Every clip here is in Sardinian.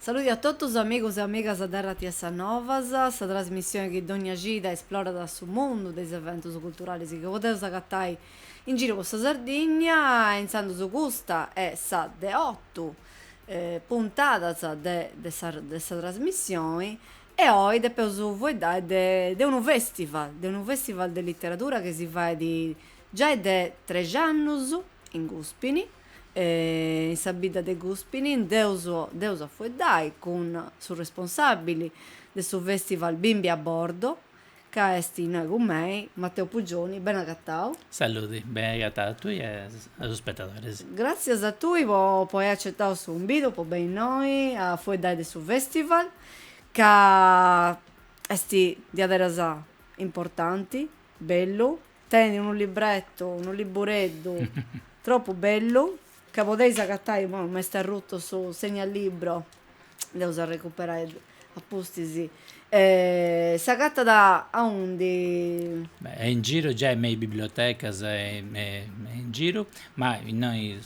Saludi a totus amigos e amigas de RTS Novas, sa trasmissione chi dònnia cida esplorat su mundu de is eventus culturales chi podeus agatai in giru po sa Sardìnnia e intzandus custa est sa de otu puntadas de de sa de sa trasmissioni e oi depeus fueddai de de unu festival, de unu festival de literadura chi si fait giai de trex'annus in Guspini in sa bidda de Guspini nd'eus nd'eus a fueddai cun su responsabili de su festival Bimbi a bordo Ca est innoi cun mei Matteo Puggioni, bene agatau. Saludi, bene agatau a tui e a is spetadoris. Gràtzias a tui po po ai acetau su cumbidu po benni innoi a fueddai de su festival, ca est diaderus importanti, bellu, tenit unu librettu, unu libbureddu tropu bellu. Ca podeis agatai ma m'est arrutu su segnalibro, dd'eus a recuperai a pustis, s'agatat aundi? Beh est in giru giai me is bibliotecas est in giru, ma innoi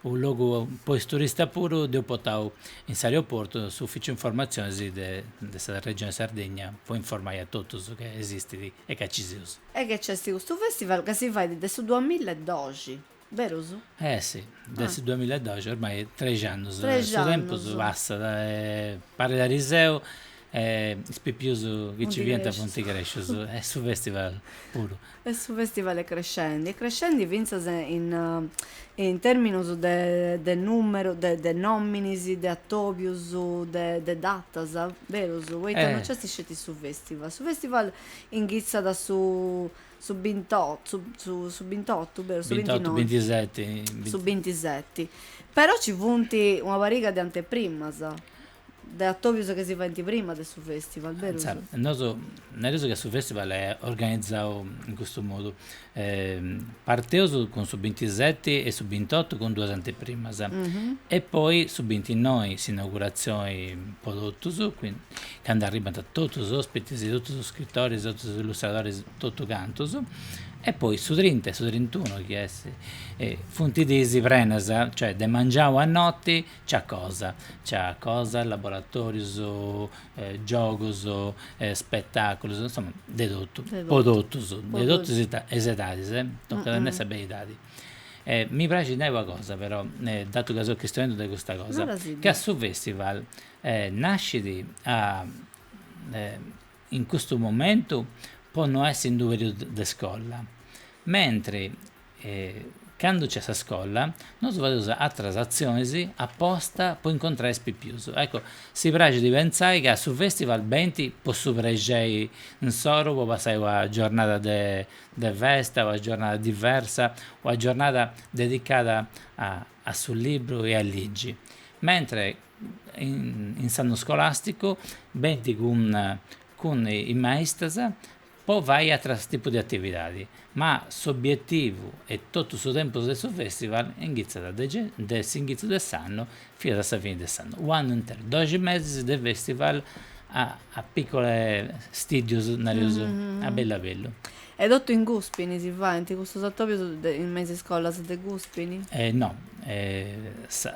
unu logu po is turistas puru dd'eus portau in s'aeroportu s'ufficiu informatzionis de sa regioni Sardegna po informai a totus ca esistit e ca ci seus. E ca nc'est custu festival ca si fait de su duamilla e doxi. Berus? Eh si, de su duamilla e doxi ormai trexi annus, su tempus passat e parit ariseu e is pipius chi nci fiant funt crescius e su festival puru. E su festival est crescendi, est crescendi fintzas in in terminus de de numerus de de nominis de atobius de de datas, berus, poita non nc'est sceti su festival, su festival inghitzat su su bintottu su bintottu beru su bintottu bintiseti su bintiseti però ci funt una pariga de anteprimas de atobius chi si faint prima de su festival beru nosu nareus ca su festival est organizau in custu modu parteus cun su bintiseti e su bintottu cun duas anteprimas e poi su bintinnoi s'inauguratzioni po totus candu arribant totus is ospitis, totus is scritoris, totus is illustradoris, totu cantus, e poi su trinta e su trintunu chi est funt dis prenas, cioè de mangianu a noti nc'at cosa, nc'at cosas, laboratorius, giogus, spetaculus, insoma de totu, po totus, de totus is edadis, tocat a nai sa beridadi. Mi praxit nai una cosa però, datu ca seu chistionendi de custa cosa, ca su festival Nascit in custu momentu po no essi in d'u periodu de scola, mentri candu nc'est sa scola nosu fadeus atras atzionis aposta po incontrai is pipius. Ecco, si praxit de pentzai ca su festival benit po su prexei insoru po passai una giornada de festa, una giornada diversa, una giornada dedicada a su libru e a ligi, mentre in s'annu scolàsticu benit cun cun is maistas po fai ateras tipu de atividadi, ma s'obietivu 'e totu su tempus de su festival inghitzat de de s'inghìtziu de s'annu finas a sa fini de s'annu, u' annu interu, doxi mesis de festival a a piccole stìddius, nareus a bellu a bellu E totu in Gùspini si faint custos atòbios in me is iscolas de Gùspini? No,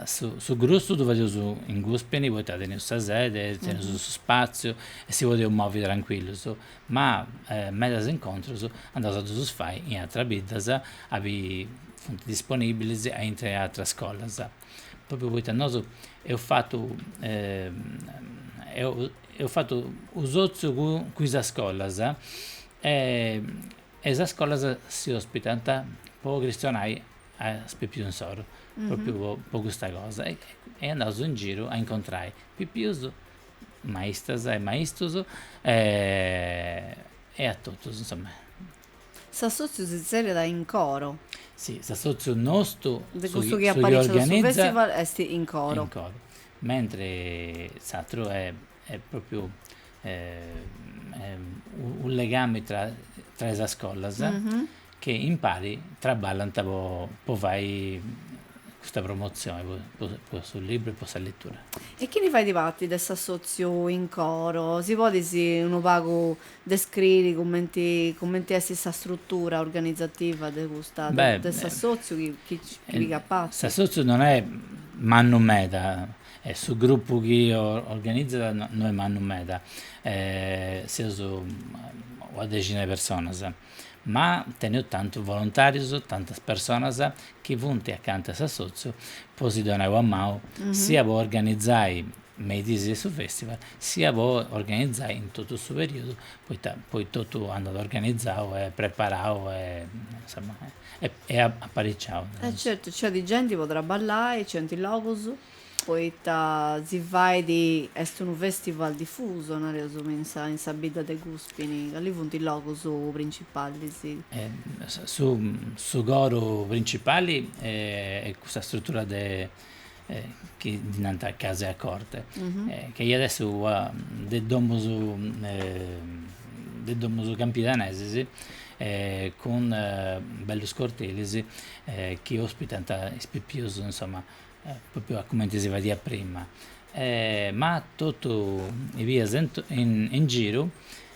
su grussu ddu fadeus in Gùspini poita teneus sa sede, teneus su spàtziu e si podeus movi trancuillus, ma medas incontrus andaus a ddus fai in ateras biddas, abi funt disponìbilis aintru 'e ateras iscolas, pròpriu poita nosu eus fatu eus fatu u' sòtziu cun is iscolas E e sa scola si ospitat po cristionai a is pipius insoru, propriu po po custa cosa, e e andaus in giru a incontrai pipius, maistas e maistus e a totus insomma. S'assotziu si zerriat in coro. Si, s'assotziu nostu, de custu chi organizat su festival est in coro. Mentri s'atru est Est pròpiu unu legami tra tra is iscolas chi impari traballant po fai custa promotzioni po su libru e po sa letura. E chini fait parti de s'assòtziu in coro? Si podis unu pagu descriri cumenti cumenti est sa strutura organizativa de custa de s'assòtziu chini pigat parti? S'assòtziu non est mannu meda E su grupu chi organizat no est mannu meda, seus una dexina 'e personas, ma teneus tantus volontàrius, tantas personas chi funt acanta 'e s'assòtziu po si donai una manu, sia po organizai me is diis de su fèstival, sia po organizai in totu su perìodu, poita poi totu andat organizau e preparau e insoma E apariciau de nois. E certu, nc'est genti po traballai, nc'est logus, poita si fait, est unu festival difusu, nareus, me in sa in sa bidda de Guspini, cali funt is logus principalis? Su su coru principali est sa struttura de chi ddi nant case a corte, chi iant essi is domus, is domus campidanesas cun bellus cortilis chi ospitant is pipius insomma propriu a cumenti si fadiat prima ma totu is bias in giru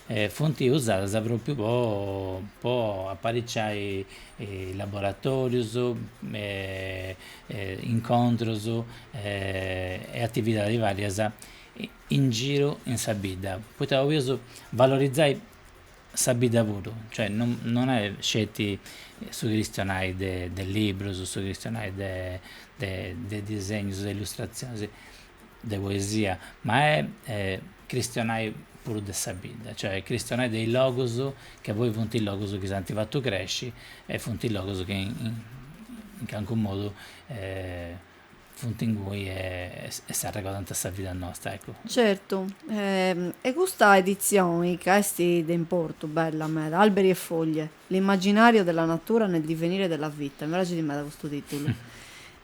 e funt usadas pròpiu po po aparicciai laboratòrius e incontrus e atividadis vàrias in giru in sa bidda, poita 'oleus valorizai sa bidda puru, cioè non non est sceti su cristionai de de librus, su cristionai de de de disegnus, de illustratzionis de poesia, ma est cristionai puru de sa bidda, cioè cristionai de is logus chi poi funt is logus chi s'ant fatu cresci e funt is logus chi in calincu modu funt inguni e s'arregodant sa vida nostra, eccu. Certu, e custa editzioni ca est de importu, bella meda, alberi e foglie. L'immaginàriu de la natura nel divenire della vita, mi praxit meda custu tìtulu.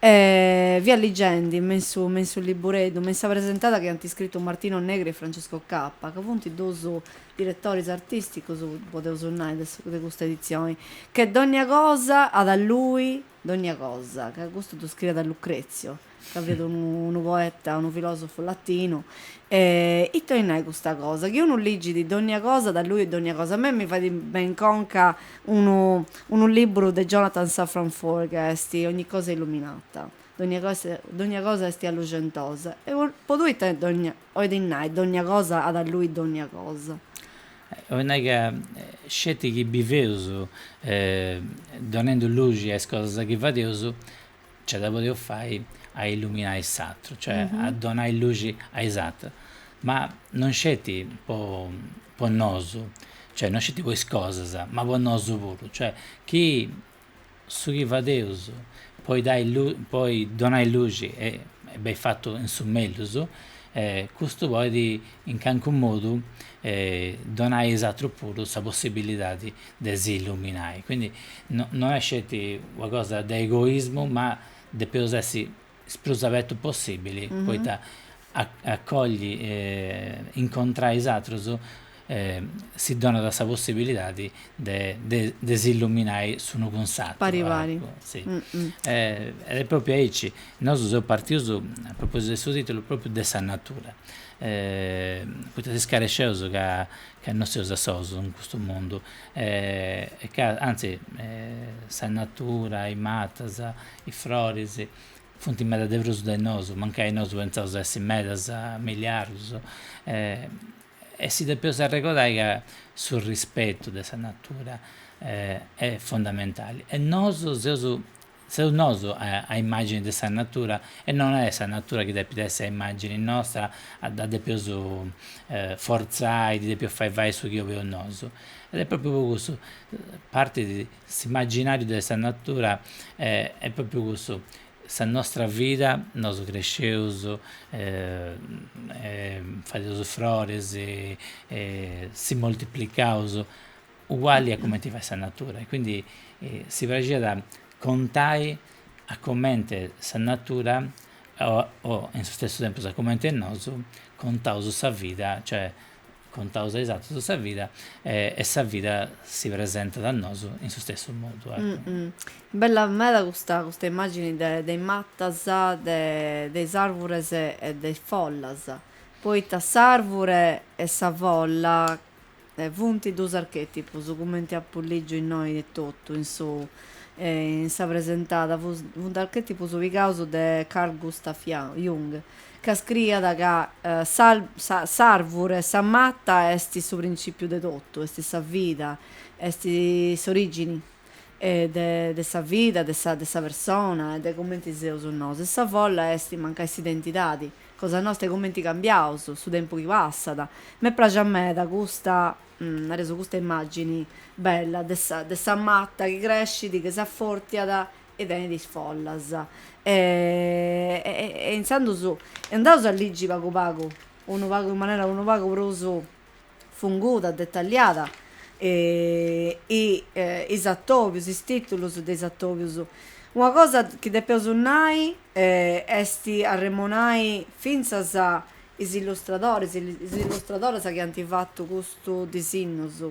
E fia ligendi, me in su me in su libbureddu, me in sa presentada chi ant iscritu Martino Negri e Francesco Cappa, ca funt duus diretoris artìsticus, podeus nai, de su de custa editzioni, che dogna cosa at a luxi dogna cosa, ca custu ddu scriiat Lucrezio, ca fiat unu poeta, unu filòsofu latinu, e ite 'olit nai custa cosa, chi unu ligit dogna cosa at a luxi dogna cosa, a mei mi fait beni in conca unu unu liburu de Jonathan Safran Foer ca est Ogni cosa è illuminata, dogna cosa est alluxentosa, e po tui ite dogna 'Olit nai dogna cosa at a luxi dogna cosa. 'Olit nai ca sceti chi biveus donendu luxi a is cosas chi fadeus nce dda podeus fai a illuminai s'atru, cioè a donai luxi a is atrus, ma non sceti po po nosu, cioè non sceti po is cosas, ma po nosu puru, cioè chi su chi fadeus po dai po donai luxi est beni fatu in su mellus e custu podit in calincu modu donai a is atrus puru sa possibilidadi de si illuminai, quindi no est sceti una cosa de egoismu ma depeus essi is prus abertu possibili poita acolli e incontrai is atrus si donat sa possibilidadi de s'illuminai s'unu cun s'atru. Pari pari. Si. E est propriu aici, nosu seus partius, a propositu de su titulu, propriu de sa natura, poita si scaresceus ca non seus a solus in custu mundu e ca anzi sa natura, is matas Is froris funt meda de prus de nosu, mancai nosu pentzaus essi medas, miliardus, e si depeus arregodai ca su rispetu de sa natura est fondamentali e nosu seus seus nosu a immagini de sa natura e non est sa natura chi depit essi a immagini nostra, a dda depeus forzai, ddi depeus fai fai su chi 'oleus nosu. Ed est propriu po cussu, partit S'immaginàriu de sa natura est pròpriu cussu, sa nostra vida, nosu cresceus fadeus frores e si moltiplicaus uguali a cumenti fait sa natura e quindi si praxiat contai a comente sa natura o in su stessu tempus a comente nosu contaus sa vida, cioè Contaus a is atrus sa vida e sa vida si presentat a nosu in su stessu modu. Bella meda custa custa immagini de de is matas, de de is arvures e de is follas, poita s'arvure e sa folla funti dus archetipus cumenti apu lìgiu innoi etotu in su in sa presentada, funt archetipus pigaus de Carl Gustav Jung. ca scriiat ca s'àrvure, sa mata est su printzìpiu de totu, est sa vida, est s'orìgini de sa vida, de sa de sa persona e de cumenti seus nosu e sa folla est mancai s'identidadi cosa nosta e cumenti cambiaus, su tempus chi passat. Mi praxit meda custa, nareus, custa immàgini bella de sa de sa mata chi crescit, chi s'affortiat e tenit is follas e e intzandus e andaus a ligi pagu pagu unu pagu in manera unu pagu prus funguda detalliada e is atobius is titulus de is atobius una cosa chi depeus nai est arremonai fintzas is illustradoris e is illustradoras chi ant fatu custus disinnus,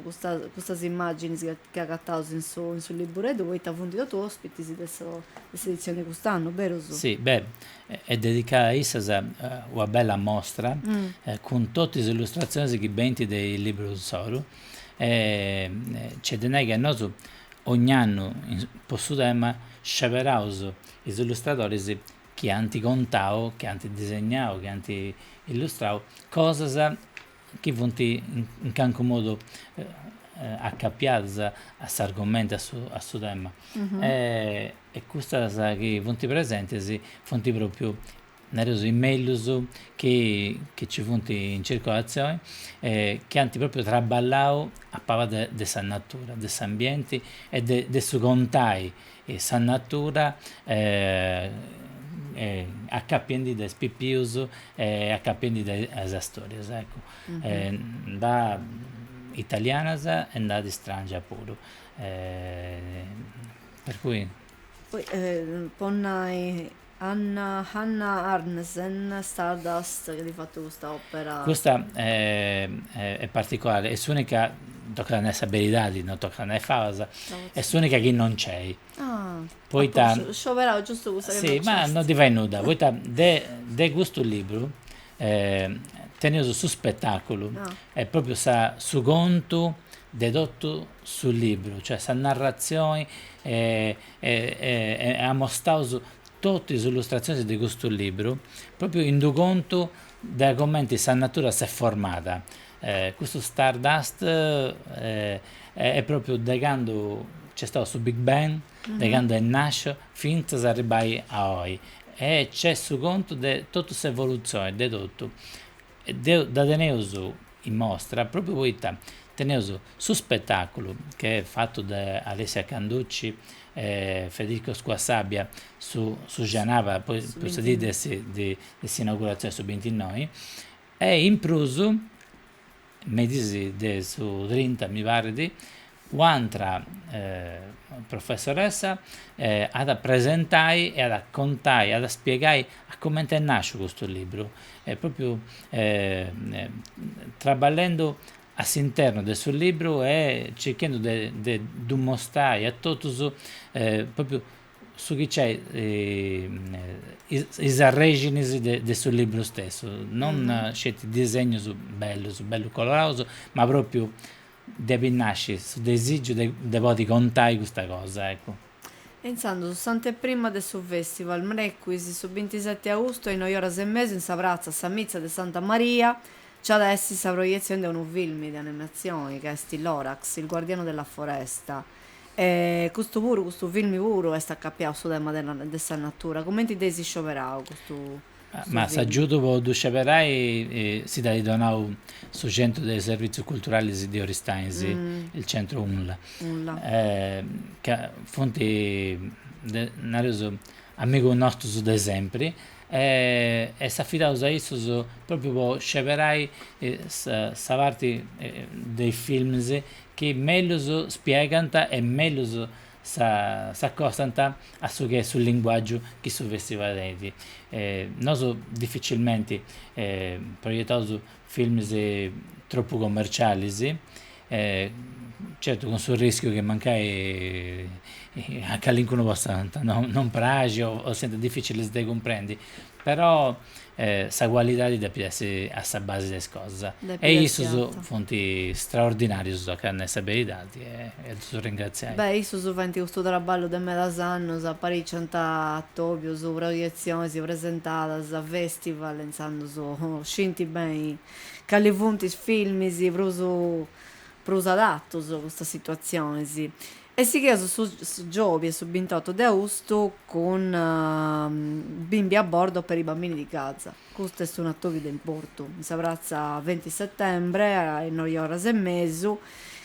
custas immàginis chi agataus in su libureddu poita funt totus òspitis de s'editzioni 'e cust'annu, berus? Si, bè, est dedicada a issas una bella mostra cun totu is illustratzionis chi benint de is libburus insoru. E nc'est de nai ca nosu ogn'annu po su tema sceberaus is illustradoris chi ant contau, chi ant disegnau, chi ant illustrau cosas chi funt in calincunu modu acapiadas a s'argumentu, a su a su tema, e custas chi funt presentis funt pròpriu, nareus, is mellus chi chi nci funt in circolatzioni e chi ant pròpriu traballau a palas de sa natura, de s'ambienti e de su contai E sa natura acapiendi de is pipius e acapiendi de is storias, eccu, nd'at italianas e nd'at istràngias puru, per cui. Poi po nai Anna Hannah Arnesen, Stardust, chi at fatu custa òpera. Custa est particolare, est s'ùnica, tocat a nai sa beridadi, no tocat a nai fabas, est s'ùnica chi non nc'est, poita, scioberau giustu cussa chi non nc'est, si, ma non ddi fait nudda, poita de de custu libru teneus su spetàculu, e pròpriu sa su contu de totu su libru, cioè sa narratzioni e amostaus totu is illustratzionis de custu libru, pròpriu in d'u' contu de comenti sa natura s'est formada, custu Stardust est pròpriu de candu nc'est stau su Big Bang, de candu est nàsciu fintzas a arribbai a oi, e nc'est su contu de totu s'evolutzioni de totu E deu dda teneus in mostra pròpriu poita teneus su spetàculu chi est fatu de Alessia Canducci e Federico Squassabia, su su xenaba poi po sa dì de de s'inauguratzioni, su bintinnoi, e in prus, merì de su trinta mi parit, Un'atra professoressa at a presentai e at a contai, at a spiegai a comente est nàsciu custu libru, e pròpriu traballendu a s'internu de su libru e circhendu de de ddu mostrai a totus pròpriu su chi nc'est is arrèxinis de su libru stessu, non sceti disegnus bellus, bellus coloraus, ma pròpriu depit nasci su desìgiu de de podi contai custa cosa, eccu. E intzandus s'anteprima de su fèstival, mrecuis, su bintiseti austu a is noi oras e mesu in sa pratza Sa Mitza de Santa Maria nc'at a essi sa proietzioni de unu filmi de animatzioni ca est Lorax, il guardiano della foresta e custu puru, custu filmi puru est acapiau su tema de de sa natura, cumenti dd'eis scioberau custu? Ma s'agiudu po ddu sceberai si dd'at donau su Centru de Servitzius Culturalis de Oristanis, il Centro UNLA. Ca funt, nareus, amigus nostus de sempri e s'afidaus a issus pròpriu po sceberai sa parti de is films chi mellus spiegant e mellus s'acostant a su chi est su linguàgiu chi su fèstival tenit. Nosu dificilmenti proietaus films tropu commercialis, certu cun su rìschiu chi mancai a calincunu possant non praxi o siant dificilis de cumprendi, però sa cualidadi depit essi a sa basi de is cosas. E issus funt straordinarius ca nai sa beridadi e ddus ringraziai. Beh, issus faint custu traballu de medas annus, apariciant atobius, proietzionis presentadas, festival, intzandus scint beni cali funt is filmis prus prus adatus po custas situatzionis. E sigheus su giòbia su bintotu de austu cun Bimbi a bordo per i bambini di Gaza. Custu est unu atòbiu de importu, in sa pratza Venti Settembre, a is noi oras e mesu,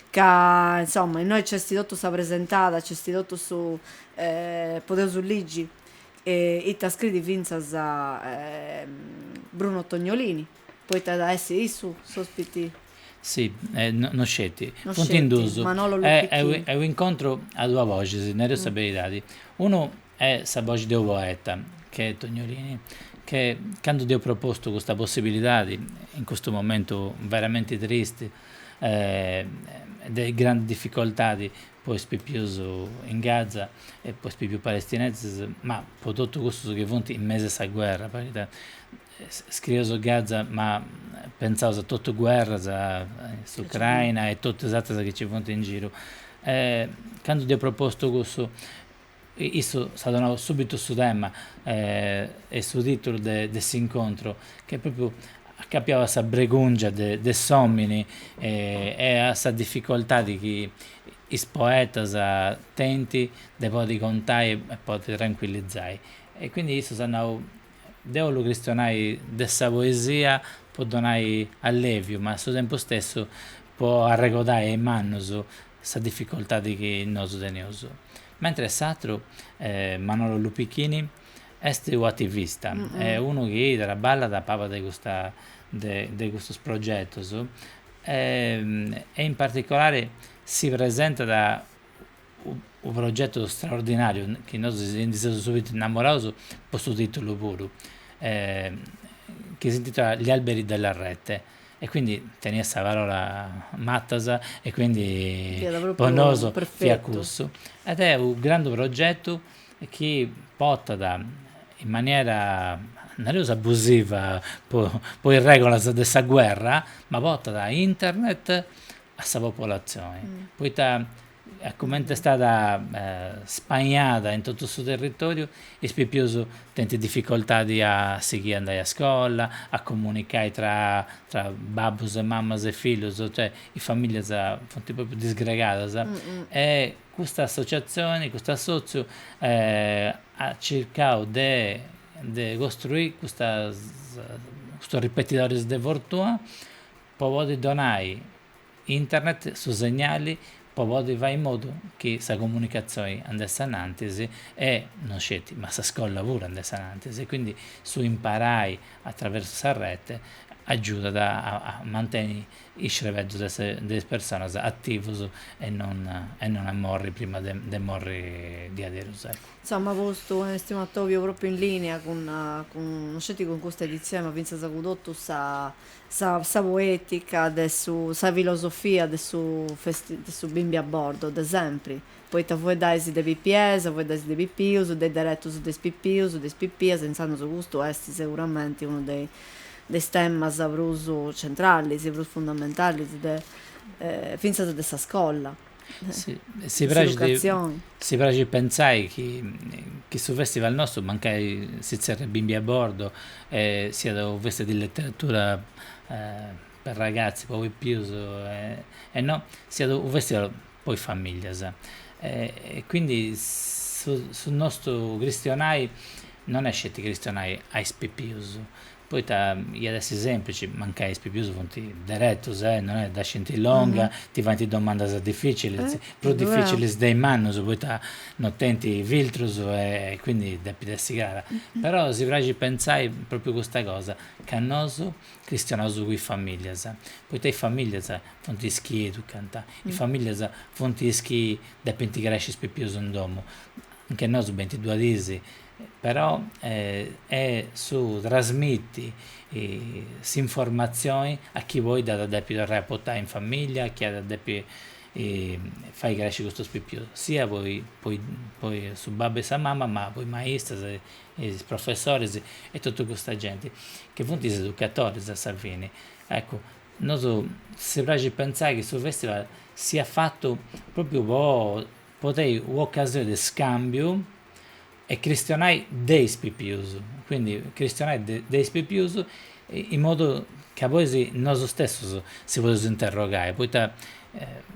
ca insoma innoi nc'est totu sa presentada, nc'est totu su podeus ligi ita scriit fintzas Bruno Tognolini. Poita at a essi issu s'òspiti. Si, e no sceti. No sceti. Funt in duus. Manolo Lupicchini. Est u' incontru a duas boxis, nareus sa beridadi. Unu est sa boxi de unu poeta, chi est Tognolini, chi candu dd'eus propostu custa possibilidadi, in custu momentu veramenti tristi e de grandi dificoltadi po is pipius in Gaza e po is pipius palestinesus, ma po totus custus chi funt in mesu a sa guerra, poita scrieus Gaza ma pentzaus a totu guerras, a s'Ucraina e totu is ateras chi nci funt in giru. Candu dd'eus propostu cussu, issu s'at donau subitu su tema e su titulu de s'incontru, ch'est propriu acapiau a sa bregungia de s'omini e a sa difficoltadi chi is poetas tenint de podi contai e podi tranquillizai. E quindi issu s'at nau, Deu ollu chistionai de sa poesia po donai alleviu, ma a su tempus stessu po arregodai a is mannus sa difficoltadi chi nosu teneus. Mentris s'atru, Manolo Lupicchini, est u' attivista e unu chi traballat a paba de custa de custus progetus e in particolari si presentat unu progetu straordinàriu chi nosu si ndi seus subito innamoraus po su tìtulu puru chi s'intitolat Gli alberi della rete e quindi teniat sa parola matas e quindi po nosu fiat cussu ed est u' grandu progetu chi portat in maniera nareus abusiva po po is regolas de sa guerra ma portat internet a sa popolazioni poita e comente est stada spanada in totu su territòriu, is pipius tenint dificoltadi a sighiri a andai a scola, a comunicai tra tra babbus e mamas e fillus, cioè is famìllias funt pròpriu disgregadas e custa associatzioni, custu assòtziu at circau de costruiri custas custus ripetidoris de fortuna po podi donai Internet su segnali po podi fai in modu chi sa comunicazioi andessi anantis e no sceti ma sa scolla puru andessi anantis e quindi su imparai attraversu sa rete aggiudat a manteni is crebeddus de is personas attivus e non e non a morri prima de morri diaderus eccu. Insomma custu esti unu attobiu propriu in linea cun no sceti cun custa edizioni ma finzas cun totu sa Sa sa poetica de su sa filosofia de su de su bimbi a bordo de sempri, poita fueddais de pipias, fueddais de pipius, de deretus de is pipius, de is pipias, intzandus custu est seguramenti unu de de is temas prus centralis, prus fundamentalis de fintzas de sa scolla. si praxit pentzai chi su festival nostru mancai si tzerriat Bimbi a bordo e siat unu festival de letteratura per ragazzi po pipius e no, siat unu festival po is familias e quindi su nostru cristionai non est sceti cristionai a is pipius Poita iat essi sèmplici, mancai is pipius funt diretus, eh, non est, dda scint longa, ti faint domandas dificilis, prus dificilis de is mannus, poita non tenint filtrus e quindi depit essi crara. Però si praxit pentzai propriu custa cosa, ca nosu cristionaus cun is familias, poita is familias funt is chi educant, is familias funt is chi depint cresci is pipius in domu, anche nosu benint duas dis, però e su trasmiti s'informatzioni a chi poi dd'at depi torrai a portai in familia a chi at depi fai cresci custus pipius siat po po su babbu e sa mama ma po is maistras e is professoris e totu custa genti chi funt is educatoris a sa fini eccu nosu si praxit pentzai chi su festival siat fatu propriu po po tenni u' occasioni de scambiu e cristionai de is pipius, quindi cristionai de is pipius in modu ca poi si nosu stessus si podeus interrogai, poita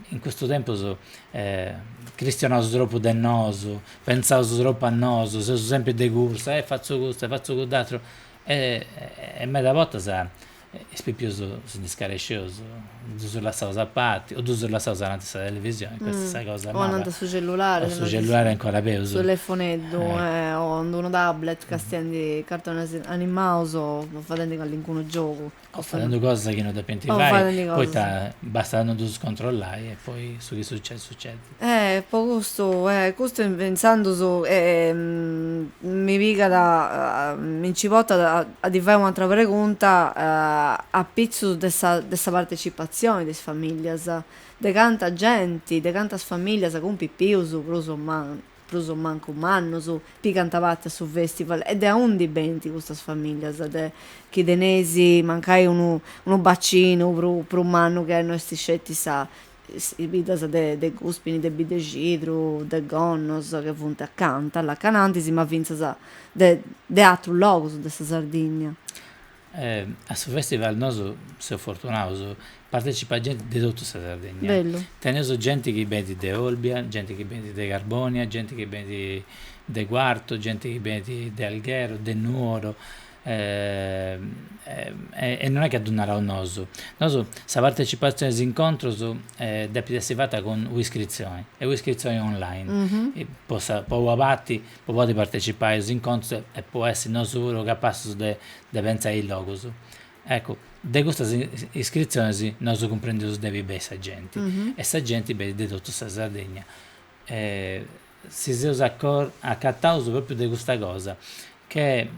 in custu tempus cristionaus tropu de nosu, pentzaus tropu a nosu, seus sempri de cursa, e fatzu custu e fatzu cudd'àteru e meda bortas Is pipius si ndi scarescius, ddus lassaus a parti, o ddus lassaus ananti sa televisioni, custa est sa cosa mala. O ananti a su cellulari. O su cellulari est ancora peus. Su telefoneddu, o in d'unu tablet, castiendi cartonis animaus o fadendi callincunu giogu. O fadendi cosas chi no depinti fai, poita bastat a no ddus controllai e poi su chi sucedi sucedi. Eh po custu eh custu intzandus mi pigat mi nci portat a ddi fai un'atera pregunta apitzus de sa de sa partecipatzioni de is familias, de canta genti, de cantas familias cun pipius prus o mancu prus o mancu mannus pigant parti a su festival e de aundi benint custas familias de, chi teneis mancai unu unu bacinu prus mannu ca no est sceti sa is biddas de Guspini, de Biddexidru, de Gonnos, ca funt acanta, allacanantis, ma fintzas de atrus logus de sa Sardinnia. A su festival nosu seus fortunaus, partecipat genti de totu sa Sardegna. Bellu. Teneus genti chi benit de Olbia, genti chi benit de Carbonia, genti chi benit de Cuartu, genti chi benit de Alghero, de Nuoro, e non est chi ddu naraus nosu, nosu sa partecipatzione a is incontrus depit essi fata cun un'iscritzioni est un'iscritzioni online, po sa po una parti po podi partecipai a is incontrus e po essi nosu puru capassus de de pentzai is logus, eccu de custas iscritzionis nosu cumprendeus de aundi benit sa genti e sa genti benit de totu sa Sardegna si seus acataus propriu de custa cosa, che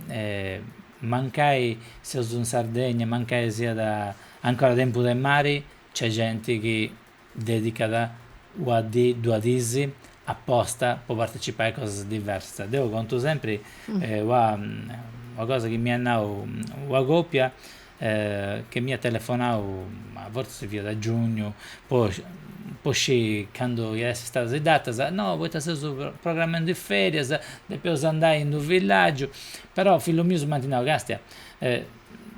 mancai seus in Sardegna, mancai siat ancora tempus de mari, nc'est genti chi dedicat una dì, duas dis aposta po partecipai a cosas diversas. Deu contu sempri una cosa chi m'at nau una copia, che m'iat telefonau, ma fortzis si fiat a giugnu, po po scì candu iat essi istadas is datas, no poita seus programendi is ferias, depeus andai in d'unu villaggiu, però fillus mius m'ant nau, Castia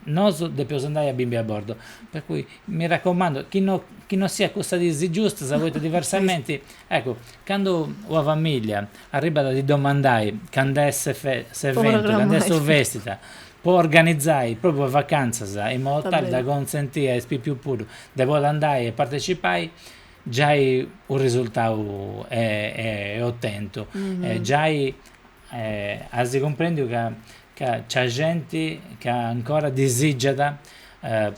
nosu depeus andai a Bimbi a Bordo, per cui mi raccomando chi no chi no siat cussas dis giustas, poita diversamenti, eccu, candu una familia arribbat a ti domandai cand'est s'eventu, cand'est su festival po organizai propriu is vacantzas in modu tali da consenti a is pipius puru de podi andai e partecipai giai unu risultau est otentu e giai as cumprendiu ca ca nc'at genti ca ancora disigiat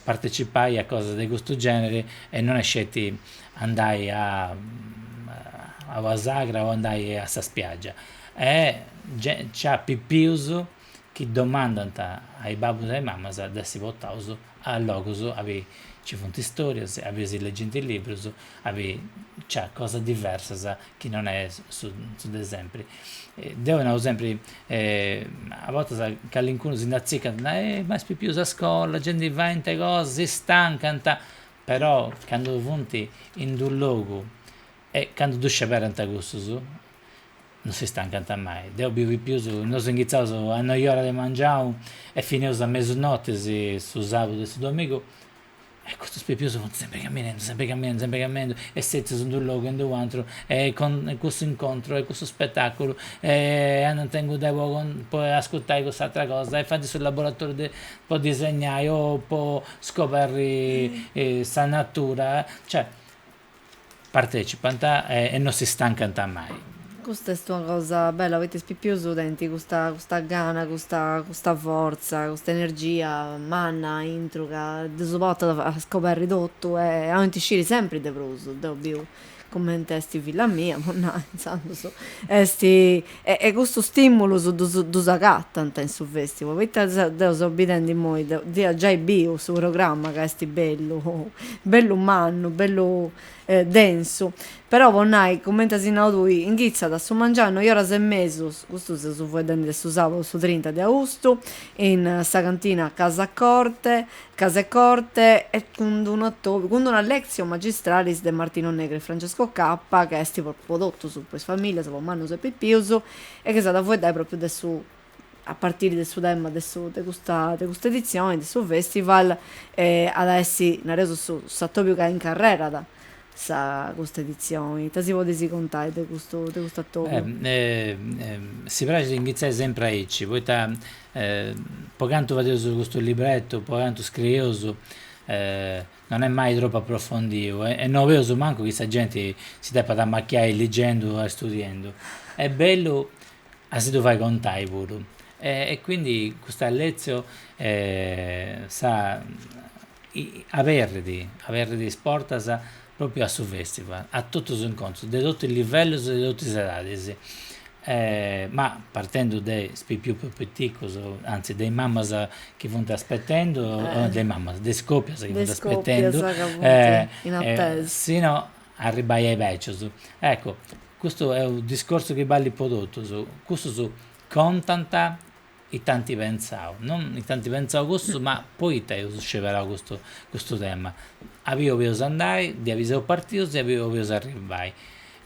partecipai a cosas de custu generi e non est sceti andai a a una sagra o andai a sa spiaggia e nc'at pipius chi domandant a is babbus e is mamas de essi portaus a logus a bi nci funt istorias, a bi si legint is librus, a bi nc'at cosas diversas chi non est su su de sempri. Deu nau sempri, a bortas calincunu si nd'atzicant, nai, ma is pipius a scola, gei ndi faint cosas, si stancant, però candu funt in d'u' logu e candu ddu sceberant cussus Non si stancant mai. Deu biu pipius, nosu inghitzaus a noi ora de mangianu e fineus a mesu notis su sabudu e su domigu e custus pipius funt sempri camminendu, sempri camminendu, sempri camminendu e setzius in d'unu logu e in d'u' atru e con cussu incontru e cussu spetaculu e andant inguni po ascurtai cuss'atra cosa e faint su laboratoriu de po disegnai o po scoberri sa natura, cioè Partecipant e no si stancant mai. Custa est una cosa bella poita is pipius tenint custa custa gana custa custa fortza custa energia manna aintru ca ddus portat a scoberri totu e boint sciri sempri de prus. Deu biu cumenti est filla mia po nai intzandus est E custus stimulus ddus agatant in su festival, poita deu seu bidendi immoi, ia giai biu su programma ca est bellu, bellu mannu, bellu densu, però po nai, cumenti as nau tui, inghitzat a su mengianu noi oras e mesus, custu seus faeddendi de su sabadu su trinta de austu, in sa cantina Casa Corte, Casecorte e cun d'una lectio magistralis de Martino Negri e Francesco Cappa ca est po totus, po is familias, po mannus e pipius e innoi s'at a fueddai propriu de su a partiri de su tema de su de custa de custa edizioni de su festival at a essi, nareus, su s'atobiu ca incarrerat sa custa editzioni, ita si podis contai de custu de custu attobiu? si praxit a inghitzai sempri aici, poita po cantu fadeus custu librettu, po cantu scrieus no est mai tropu approfondiu e no boleus mancu chi sa genti si depat amachiai ligendu o istudiendu, est bellu a si ddu fai contai puru e quindi custa lectio sa aberrit aberrit is portas propriu a su festival, a totus is incontrus de totus is livellus e de totus is edadis, ma partendu de is pipius prus piticus, anzi de is mamas chi funt aspetendu, de is mamas, de is copias chi funt aspetendu, sino a arribbai a is becius, eccu custu est u' discorsu chi ballit po totus, cussus contant ite ant pentzau, non ite ant pentzau custu, ma poita eus sceberau custu custu tema, abiu 'olius andai, de abiu seu partius e abiu 'olius arrivai,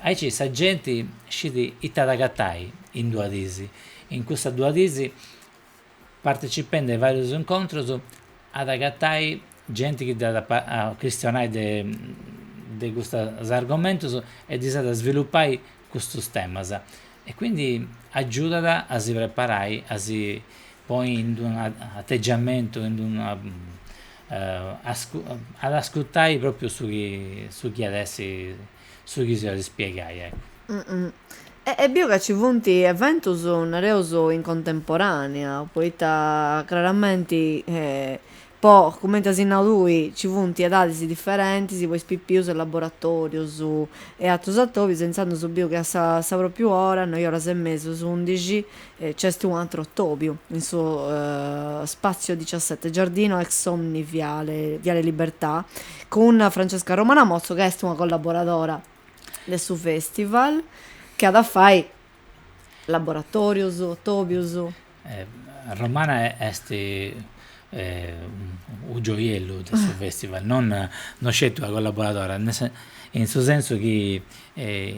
aici sa genti scit ite at agatai in duas dis, in custas duas dis, partecipendi a is varius incontrus at agatai genti chi dd'at a cristionai de de custas argomentus e ddis at a svilupai custus temas, e quindi agiudat a si preparai, a si poi in d'una ategiamentu in d'una ad ascurtai propriu su chi su chi at essi su chi si at a ispiegai, ecco. E biu ca ci funt eventus nareus in contemporanea, poita craramenti Poi, cumenti as nau tui, ci funt edadis diferentis po is pipius e laboratòrius e àterus atòbius e intzandus biu chi a sa sa pròpriu ora, noi oras e mesus, undixi, nc'est u' atru atòbiu, in su Spazio diciassette, Giardino ex Somni via Viale Libertà, cun Francesca Romana Motzo ca est una collaboradora de su festival, chi at a fai Laboratòrios, atòbios. Romana est unu gioiellu de su fèstival, non non sceti una collaboradora, in su sensu chi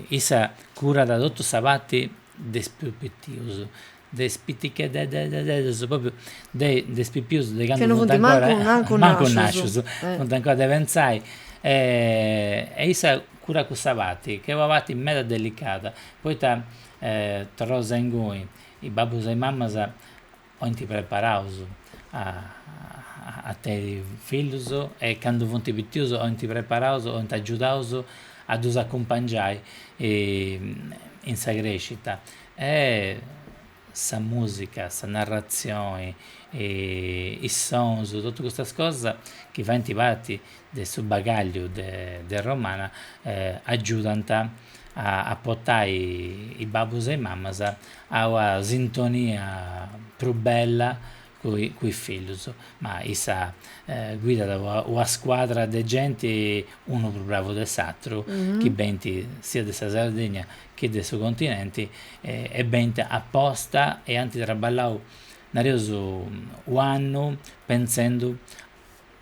issa curat totu sa parti de is prus pipius, de is pitichedededededdus, propriu de de is pipius de candu funt ancora, mancu nascius, funt ancora de pentzai e issa curat cussa parti, chi est una parti meda delicada Poita torraus a ingoi, is babbus e is mamas ointi preparaus a teniri fillus e candu funti pitius ointi preparaus, ointi agiudaus a dus acumpangiai in sa crescita e sa mùsica, sa narratzioni, is sonus, totus custas cosas chi faint parti de su bagagliu de Romana agiudant a portai is babbus e is mamas a una sintonia prus bella cun is fillus, ma issa guidat una scuadra de genti unu prus bravu de s'atru chi benint sia de sa Sardegna chi de su continenti e benint aposta e ant traballau nareus u' annu pentzendu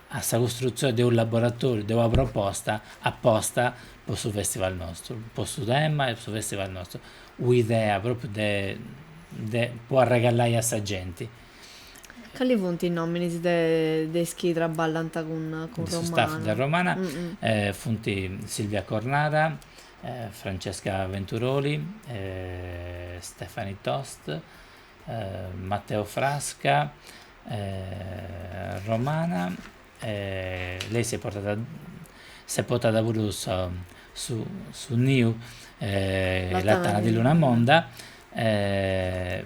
a sa costrutzione de unu laboratoriu, de una proposta aposta po su festival nostru, po su tema e po su festival nostru, un'idea propriu de de po arregalai a sa genti. Cali funt is nominis de de is chi traballant cun cun Romana? De su staff de Romana funt Silvia Cornara, Francesca Venturoli, Stephanie Tost, Matteo Frasca, Romana e lei s'est portada s'est portada puru sa su su niu La Tana di Lunamonda e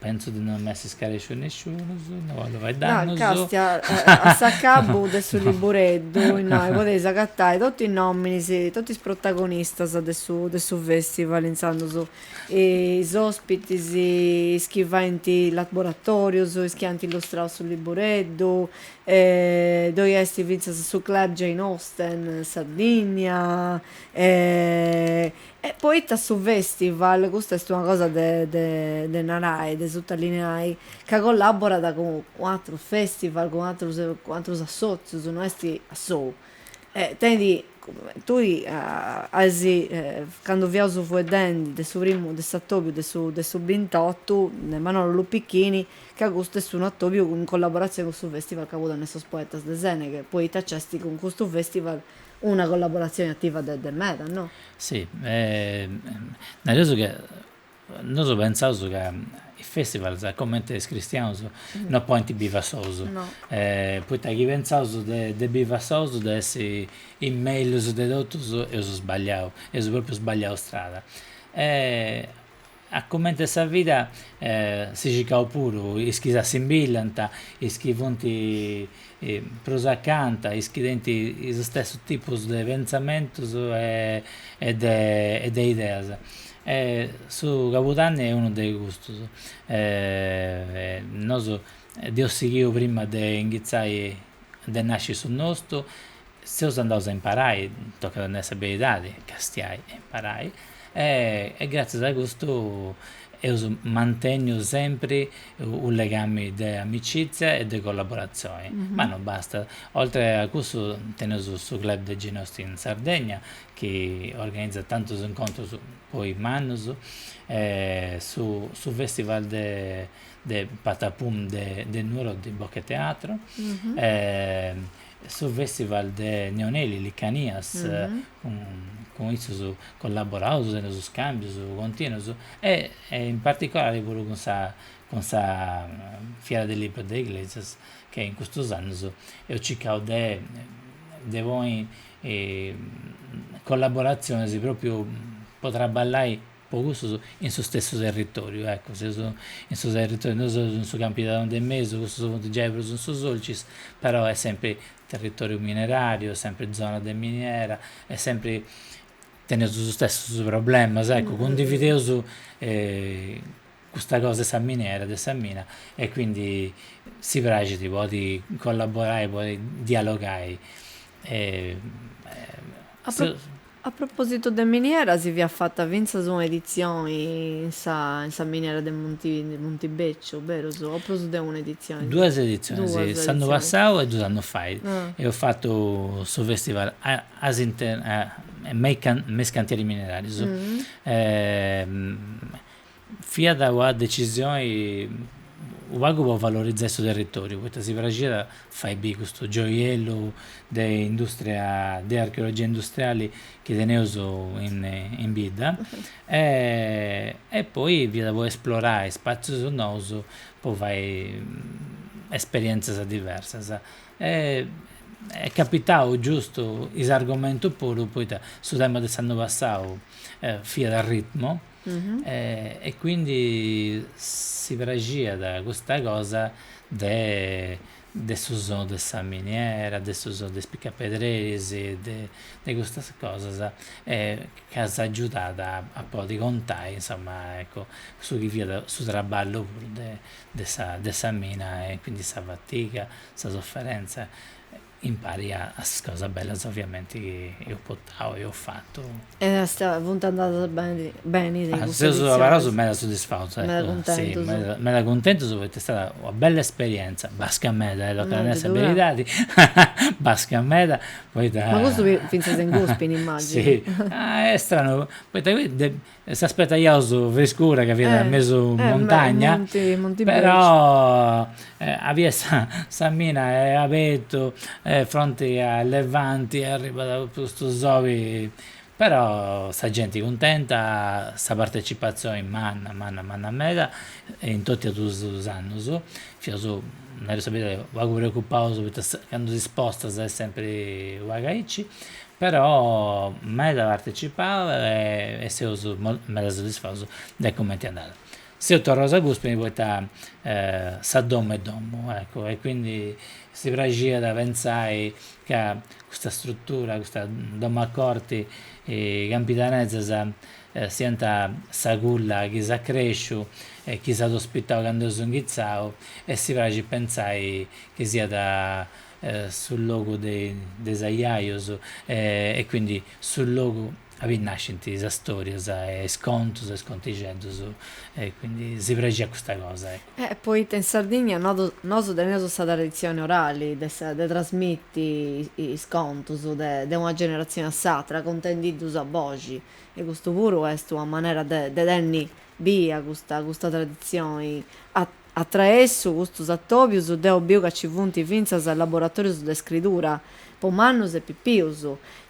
pentzu de no m'essi scaresciu nesciunus, no bollu fai dannus. No Castia, a s'acabu de su libureddu innoi podeis agatai totu is nominis, totu is protagonistas de su de su festival intzandus is ospitis, is chi faint is laboratorius, is chi ant illustrau su libureddu, ddoi est fintzas su club Jane Austen Sardigna, e poita su festival, custa est una cosa de de narai, de sutalineai, ca collaborat cun atrus festival, cun atrus cun atrus assotzius, no est a sou. E tenit, tui as, candu fiaus fueddendi de su primu, de s'atobiu de su de su bintotu, de Manolo Luppichini, ca custu est unu atobiu in collaboratzioni cun su festival Cabudanne de sos Poetas de Seneghe, poita nc'est cun custu festival una collaboratzioni ativa de de meda, no? Sì, nareus chi Nosu pentzaus ca is festivals, comente is cristianus, no podint bivi a sous, poita chi pentzaus de bivi a sous de essi is mellus de totus eus sbagliau, eus propriu sbagliau strada. E a comente sa vida si circaus puru is chi s'assimbillant, is chi funt prus acanta is chi tenint is stessus tipus de pentzamentus e de ideas. Su Cabudanni est unu de custus, nosu dd'eus sighiu prima de inghitzai de nasci su nostru Seus andaus a imparai, tocat a nai sa beridadi, castiai e imparai, e gràtzias a custu eus mantenniu sempri unu legami de amicizia e de collaboratzioni, ma non bastat, oltre a custu teneus su club de Jane Austen Sardegna chi organizat tantus incontrus po is mannus e su su festival de de Patapum de de Nuoro de Bocheteatro e su Festival de Neoneli Licanias cun issos collaboraus in sos scambios continuos e in particolare puru cun sa cun sa fiera del libro de Iglesias che in custos annos eus circau de de ponni collaboraziones propriu po trabballai po custus in su stessu territòriu, ecco, seus in su territòriu, nosu seus in su Campidanu de mesu, custus funt giai prus in su Sulcis, però est sempri territòriu mineràriu, est sempri zona de miniera, est sempri, teneus is stessus problemas, ecco, cundivideus custa cosa de sa miniera, de sa mina, e quindi si praxit podi collaborai, podi dialogai. A propositu de miniera si fiat fata fintzas una editzioni in sa in sa miniera de de Muntibeciu, berus? O prus de una editzioni? Duas editzionis si, s'annu passau e dus annus fait eus fatu su festival me is cantieri minerarius Fiat una decisioni unu pagu po valorizai su territòriu, poita si praxiat fai biri custu gioiellu de indùstria, de archeologia industriali chi teneus in bidda e poi fiat po esplorai spàtzius nous po fai esperièntzias diversas. Est capitau giustu is argomentus puru, poita su tema de s'annu passau fiat a ritmu e quindi si praxiat custa cosa de de su sonu de sa miniera, de su sonu de is picapedreris, de custas cosas e chi s'agiudat a podi contai insoma ecco su chi fiat su traballu puru de sa de sa mina e quindi sa fatiga, sa sofferenza Impari a is cosas bellas oviamenti chi eus potau e eus fatu. E est, funt andadas beni beni custas edizionis. Seus abarraus meda sodisfaus, eccu. Meda cuntentus. Si, meda meda cuntentus poita est stada una bella esperienza, basca meda e tocat a nai sa beridadi, basca meda poita. Ma custu fintzas in Guspini immaginu. Si, est stranu poita E s'aspetaiaus friscura ca fiat mesu montagna, però aiat sa sa mina est abertu fronti a levanti e arribat custu soli, però sa genti cuntenta, sa partecipazioni manna manna manna meda in totu is duus annus, fiaus nareus sa beridadi pagu preocupaus poita candu ti spostas est sempri u' pagu aici, Però meda partecipau e seus meda soddisfaus de cumenti andat. Seus torraus a Guspini poita sa domu est domu, eccu, e quindi si praxiat pentzai ca custa struttura, custa domu a corti campidanesa siat sa culla chi s'at cresciu e chi s'at ospitau candu eus inghitzau e si praxit pentzai chi siat su logu de is aiaius e quindi su logu aubi nascint is storias e is contus e is contixeddus e quindi si praxiat custa cosa eccu. Poita in Sardigna nosu teneus sa traditzioni orali de trasmiti is contus de una generatzioni a s'atra contendiddus a boxi e custu puru est una manera de tenni bia custa traditzioni a Atraessu custus atòbius deu biu ca nci funt fintzas laboratòrius de scridura po mannus e pipius.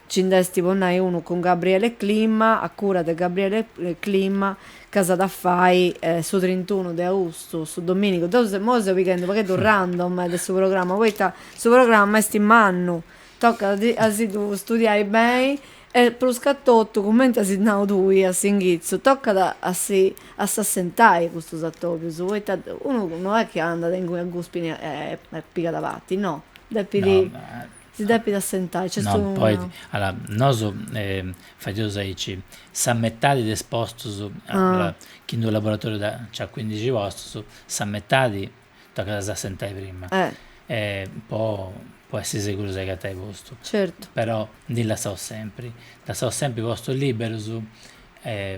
Nci nd'est, po nai unu, cun Gabriele Clima, a cura de Gabriele Clima, ca s'at a fai su trintunu de austu, su domìnigu. Deu immoi seu pighendi u' pagheddu random de su programma, poita su programma est mannu, tocat a si ddu studiai beni E pruscatotu, cumenti as nau tui a s'inghitzu, tocat a si a s'assentai custus atobius, poita unu no est chi andat inguni a Guspini e pigat parti, no, depit, si depit assentai, nc'est unu. No, poita, allora, nosu fadeus aici sa metadi de is postus, chi in d'unu laboratoriu nc'at cuindixi postus, sa metadi tocat a s'assentai prima po essi segurus de agatai postu però ndi lassaus sempri postus liberus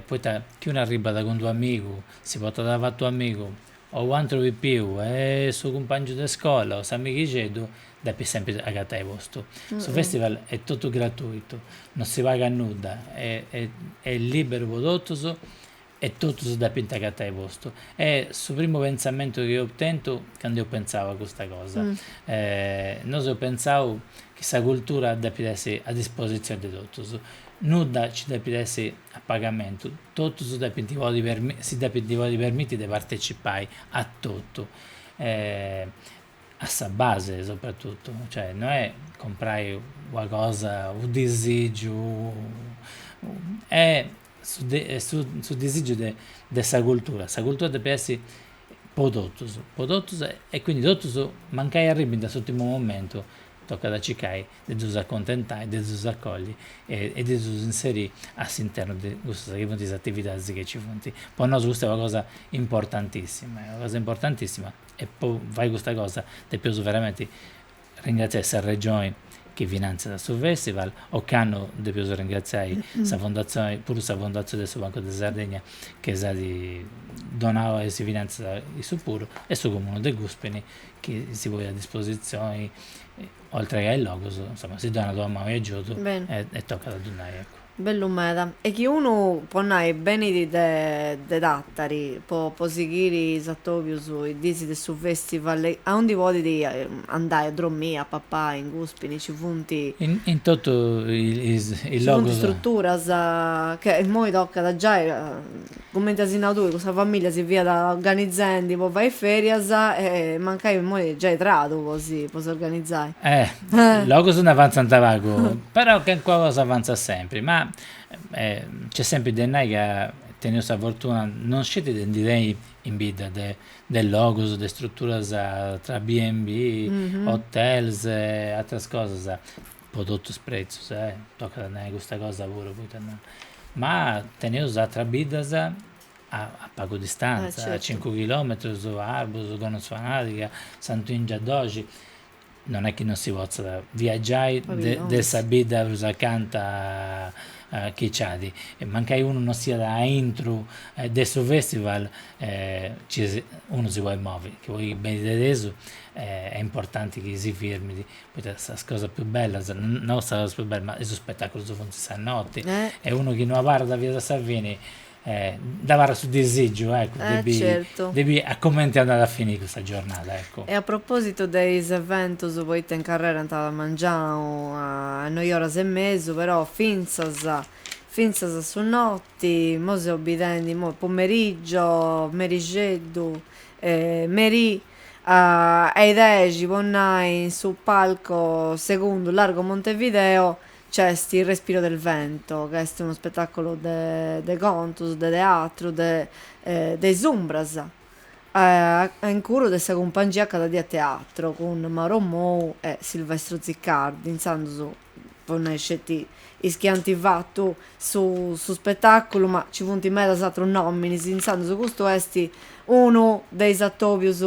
poita chi unu arribbat cun d'unu amigu si portat avatu un'amigu o un'antru pipiu e su cumpangiu de scola o s'amighixeddu depis sempri agatai postu su festival est totu gratuitu non si pagat nudda e est liberu po totus E totus depint agatai postu. Est su primu pentzamentu chi eus tentu candu eus pentzau a custa cosa, nosu eus pentzau chi sa cultura depit essi a dispositzioni de totus, nudda nci depit essi a pagamentu, totus depint podi si depint podi permiti de partecipai a totu, a sa base sopratutu, cioè no est comporai una cosa, u' disìgiu est su disìgiu de sa cultura, sa cultura depit essi po totus, po totus e quindi totus mancai arribbint a s'ùrtimu momentu tocat a circai de ddus accontentai, de ddus acolli e de ddus inserì a s'internu de cussas chi funt is atividadis chi nci funt. Po nosu custa est una cosa importantissima, est una cosa importantissima e po fai custa cosa depiaus veramenti Ringratziai sa Regioni chi finantziat su festival, ocannu depius ringratziai sa Fondatzioni, puru sa fondatzioni de su Bancu de Sardegna chi s'at donau e si finantziat issu puru e su Comunu de Guspini chi si ponit a dispositzioni oltre che a is logus, insoma si donat una manu de agiudu e tocat a ddu nai eccu Bellu meda. E chi unu po nai benit de Tattari po po sighiri is atobius is diis de su festival aundi podit andai a dromiri, a papai, in Guspini nci funt in totu is logus. Nci funt struturas ca immoi tocat giai cumenti as nau tui cun sa familia si fiat organizendi po fai ferias e mancai immoi giai tradu po si po s'organizai. Logus nd'avantzant pagu, però calincuna cosa avantzat sempri, ma nc'est sempri de nai ca teneus sa fortuna, non sceti de ndi teniri in bidda de de logus, de struturas tra B&B, hotels e atras cosas, po totus is pretzus, tocat a nai custa cosa puru, poita no, ma teneus atras biddas a a pagu distanza, a cincu chilometrus, Arbus, Gonnosfanadiga, Santu 'Èngiu a doxi, Non est chi non si potzat viagiai de sa bidda prus acanta chi c'at, mancai unu non siat a intru de su festival unu si podit movi, chi poi benit de tesu est importanti chi si firmit, poita sas cosas prus bellas, no sas cosas prus bellas ma is spettaculus funt sa notti e unu chi no abarrat finas a sa fini dd'abarrat su disìgiu de bi a comente andat a fini custa giornada. E a propositu de is eventus, poita in carrera a mangianu a noi oras e mesu, però fintzas fintzas a su noti, imoi seus bidendi, imoi pomerigio, merixeddu, merì a is dexi po nai in su palco segundu Largo Montevideo Nc'est Il respiro del vento, ca est unu spetàculu de contus, de teatru, de de is umbras a incuru de sa cumpangia Cada Die Teatro, cun Mauro Mou e Silvestro Ziccardi, intzandus po nai sceti is chi ant fatu su su spetàculu, ma nci funt medas atrus nominis, intzandus custu est unu de is atobius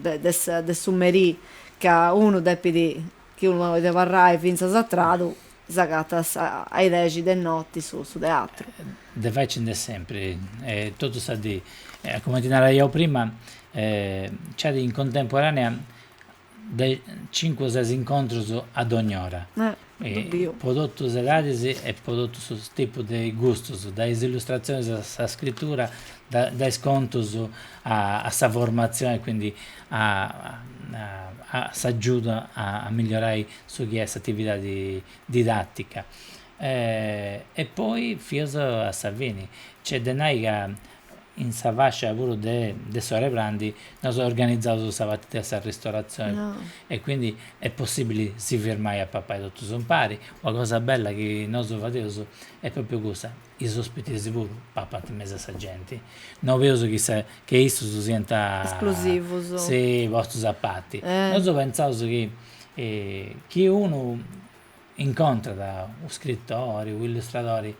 de de su merì ca unu depit chi unu podit abarrai fintzas a tradu s'agatat a is dexi de noti su teatru. De fai ci nd'est sempri e totu sa dì, cumenti naraiaus prima, nc'at in contemporanea de cincu o ses incontrus a dogni ora, po totu is edadis e po totu su tipu de gustus, dae is illustratzionis a sa scritura, dae is contus a sa formatzioni e quindi a s'agiudai a migliorai su chi est s'atividadi didàtica. E poi fius a sa fini. Nc'est de nai ca in sa fascia puru de de su 'e prandi nosu organizaus sa parti de s'arristoratzioni e quindi est possibili si firmai a papai totus impari. Una cosa bella chi nosu fadeus est propriu custa. Is ospitis puru papant in mesu a sa genti. No boleus chi issus siant Esclusivus. si postus a parti. Nosu pentzaus chi chi unu incontrat u' scritori, u' illustradori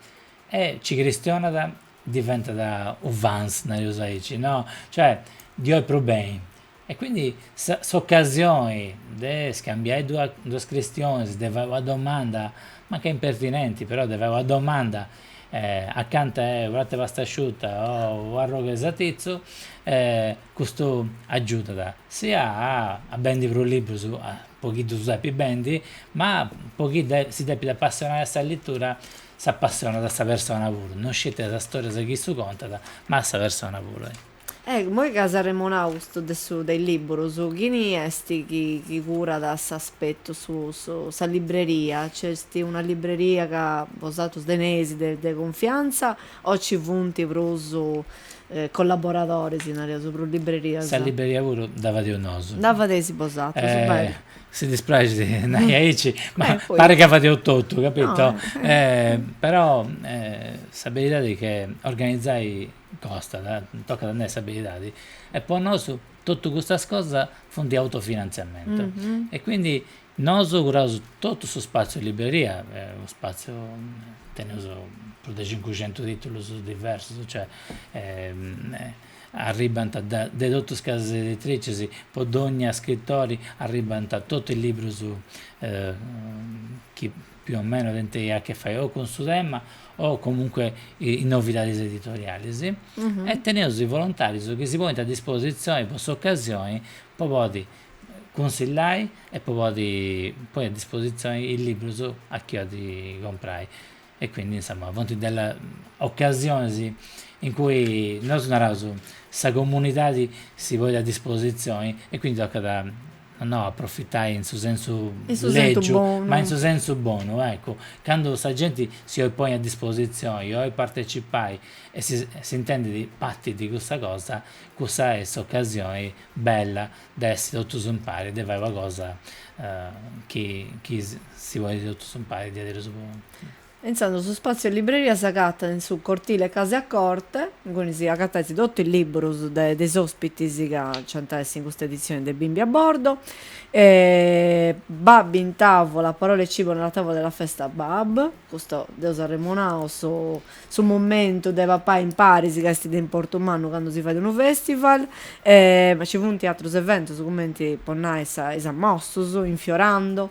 e ci cristionat diventat u' fan, nareus aici, no, cioè ddi 'oit prus beni, E quindi s'occasioni de scambiai duas cristionis, de fai una domanda, mancai impertinenti, però de fai una domanda accanta 'e unu pratu 'e pastasciutta o u' arrogu 'e satizzu, custu aggiudat sia a a bendi prus libbrus po chi ddus depi bendi, ma po chi si depit appassionai a sa lettura s'appassionat a sa persona puru, non sceti a sa storia chi issu contat, ma a sa persona puru E immoi ca as arremonau custu de su de is libburus, chini esti chi chi curat s'aspetu su 'e sa libreria? Nc'esti una libreria ca bosatrus teneis de de confiantza o nci funti prus collaboradoris, nareus, prus librerias? Sa libreria puru dda fadeus nosu. Dda fadeis bosatrus, beni. Si dispraxit a nai aici, ma parit ca fadeus totu, capito? Però sa beridadi est chi organizai Costat, tocat a nai sa beridadi, e po nosu totu custas cosas funt autofinantziamentu, e quindi nosu curaus totu su spaziu 'e libreria, unu spaziu, teneus prus de cincucentus titulus diversus, cioè arribbant de totu is casas editricis, po dogna scritori arribbant totu is librus chi più o meno tenint a che fai o cun su tema o comunque is novidades editoriales e teneus is volontarius chi si ponint a disposizioni po s'occasioni po podi cunsillai e po podi ponni a disposizioni is liburus a chi olit comprai e quindi insomma funt delle occasiones in cui nosu naraus sa comunidadi si ponit a disposizioni e quindi tocat No aprofitai in su sensu lègiu, ma in su sensu bonu, eccu, candu sa genti si 'olit ponni a dispositzioni, 'olit partecipai e s'intendit parti de cussa cosa, cussa est s'ocasioni bella de essi totus impari e de fai una cosa chi si podit totus impari diaderus puru E intzandus su spàtziu libreria s'agatat in su cortile 'e Case a Corte, inguni si agatais totu is liburus de de is òspitis ca nc'ant a essi in custa editzioni de Bimbi a bordo. Bab in tavola, parole e cibo nella tavola della festa Bab, custu dd'eus arremonau, su su momentu de papai imparis ca est de importu mannu candu si fait unu festival. Ma nci funt atrus eventus cumenti, po nai, sa is ammostus, Infiorando,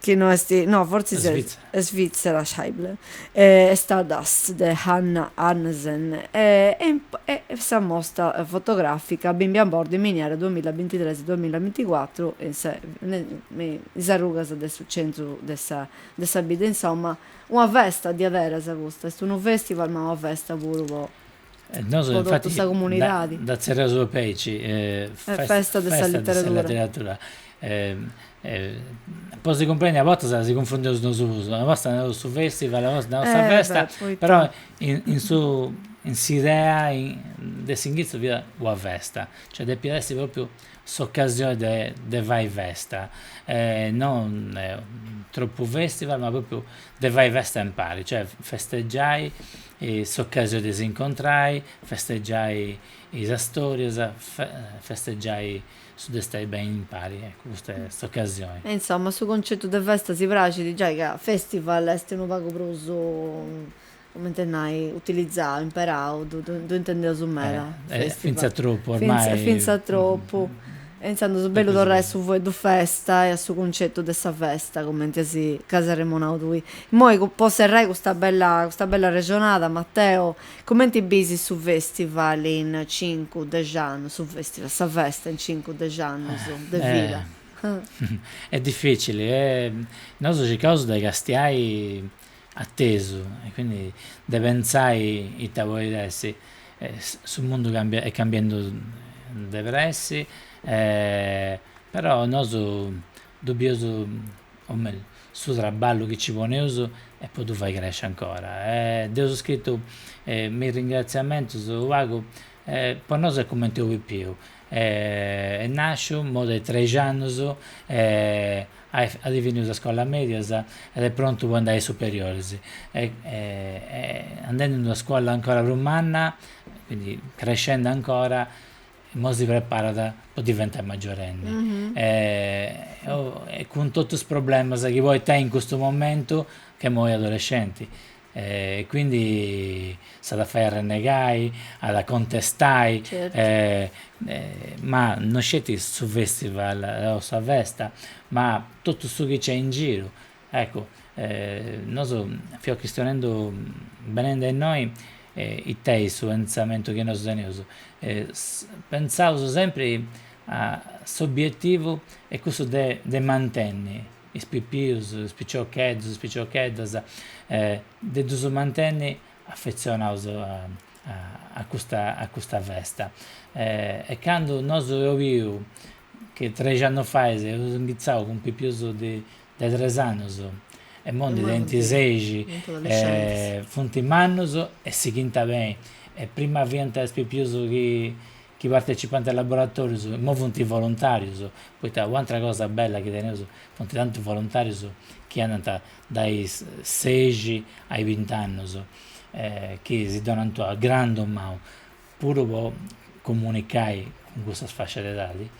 chi no est, no fortzis est Svitzera, Scheible, Stardust de Hannah Arnesen e sa mostra fotogràfica Bimbi a bordo in miniera duamilla bintitres-duamilla binticuatru in sa is arrugas de su centru de sa de sa bidda, insoma una festa diaderas custa, est unu festival ma una festa puru po po totu sa comunidadi. Nosu infati dda tzerreus aici, festa de sa leteradura, po si cumprendi a bortas si cunfundeus nosus, una borta nareus su festival, una borta nareus sa festa, però in su in s'idea de s'inghitzu fiat una festa, cioè depiat essi propriu s'occasioni de de fai festa, non tropu festival ma propriu de fai festa impari, cioè festeggiai S'occasioni de s'incontrai, festegiai is istòrias, festegiai su de stai beni impari, eccu custa est s'ocasioni. E insoma, su concetu de festa si praxit giai ca festival est unu pagu prus, cumenti a nai, utilizau, imperau, ddu intendeus meda, festival. Fintzas tropu ormai. Fintzas tropu. E intzandus su bellu torrai a su fueddu festa e a su cuncetu de sa festa, cumenti a su chi as arremonau tui. Immoi, po serrai custa bella custa bella arrexonada, Matteo, cumenti bisis su festival in cincu, dexi annus, su festival, sa festa in cincu, dexi annus de vida? Est dificili, nosu circaus de castiai Atesu, e quindi de pentzai ita poit essi, su mundu cambiat, est cambiendu de pressi, però nosu ddu bius, o mellus, su traballu chi nci poneus est po ddu fai cresci ancora, e dd'eus scritu me is ringraziamentus u' pagu, po nosu est cumenti unu pipiu Est nàsciu imoi de trexi annus e at finiu is iscolas mèdias ed est prontu po andai a is superioris e andendi in una scola ancora prus manna quindi crescendi ancora imoi si preparat po diventai maggiorenni e cun totus is problemas chi podit tenni in custu momentu ch'est imoi adolescenti E quindi s'at a fai arrennegai, at a contestai, ma no sceti su festival o sa festa, ma totu su chi c'est in giru, ecco nosu fiaus chistionendu benende a innoi ite est su pentzamentu chi nosu teneus, pentzaus sempre a s'obiettivu est cussu de mantenni is pipius, is piciocheddus, is piciocheddas de ddus mantenni affezionaus a custa a custa festa e candu nosu eus biu chi trexi annus fait eus inghitzau cun pipius de de tres annus e imoi ndi tenint sexi e funt mannus e sighint a benni e prima fiant is pipius chi chi partecipant a is laboratòrios, immo funt volontàrios, poita u' atra cosa bella chi teneus, funt tanti volontàrios chi andant dae is sexi a is bint'annus, chi si donant ua grandu mau, puru po comunicai cun cussas fascias de edadi,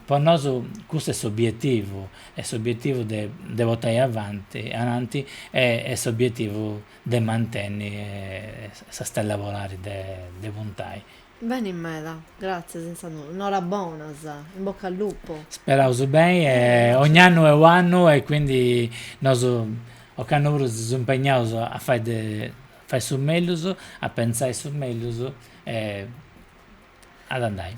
po nosu custu est s'obietivu, est s'obietivu de de portai avanti ananti e est s'obietivu de mantenni sa stella polari de de puntai Beni meda, gratzias intzandus. Norabonas, in bocca al lupo. Speraus beni e ogn'annu est u'annu e quindi nosu ocannu puru si seus impegnaus a fai de fai su mellus, a pentzai su mellus e ad andai.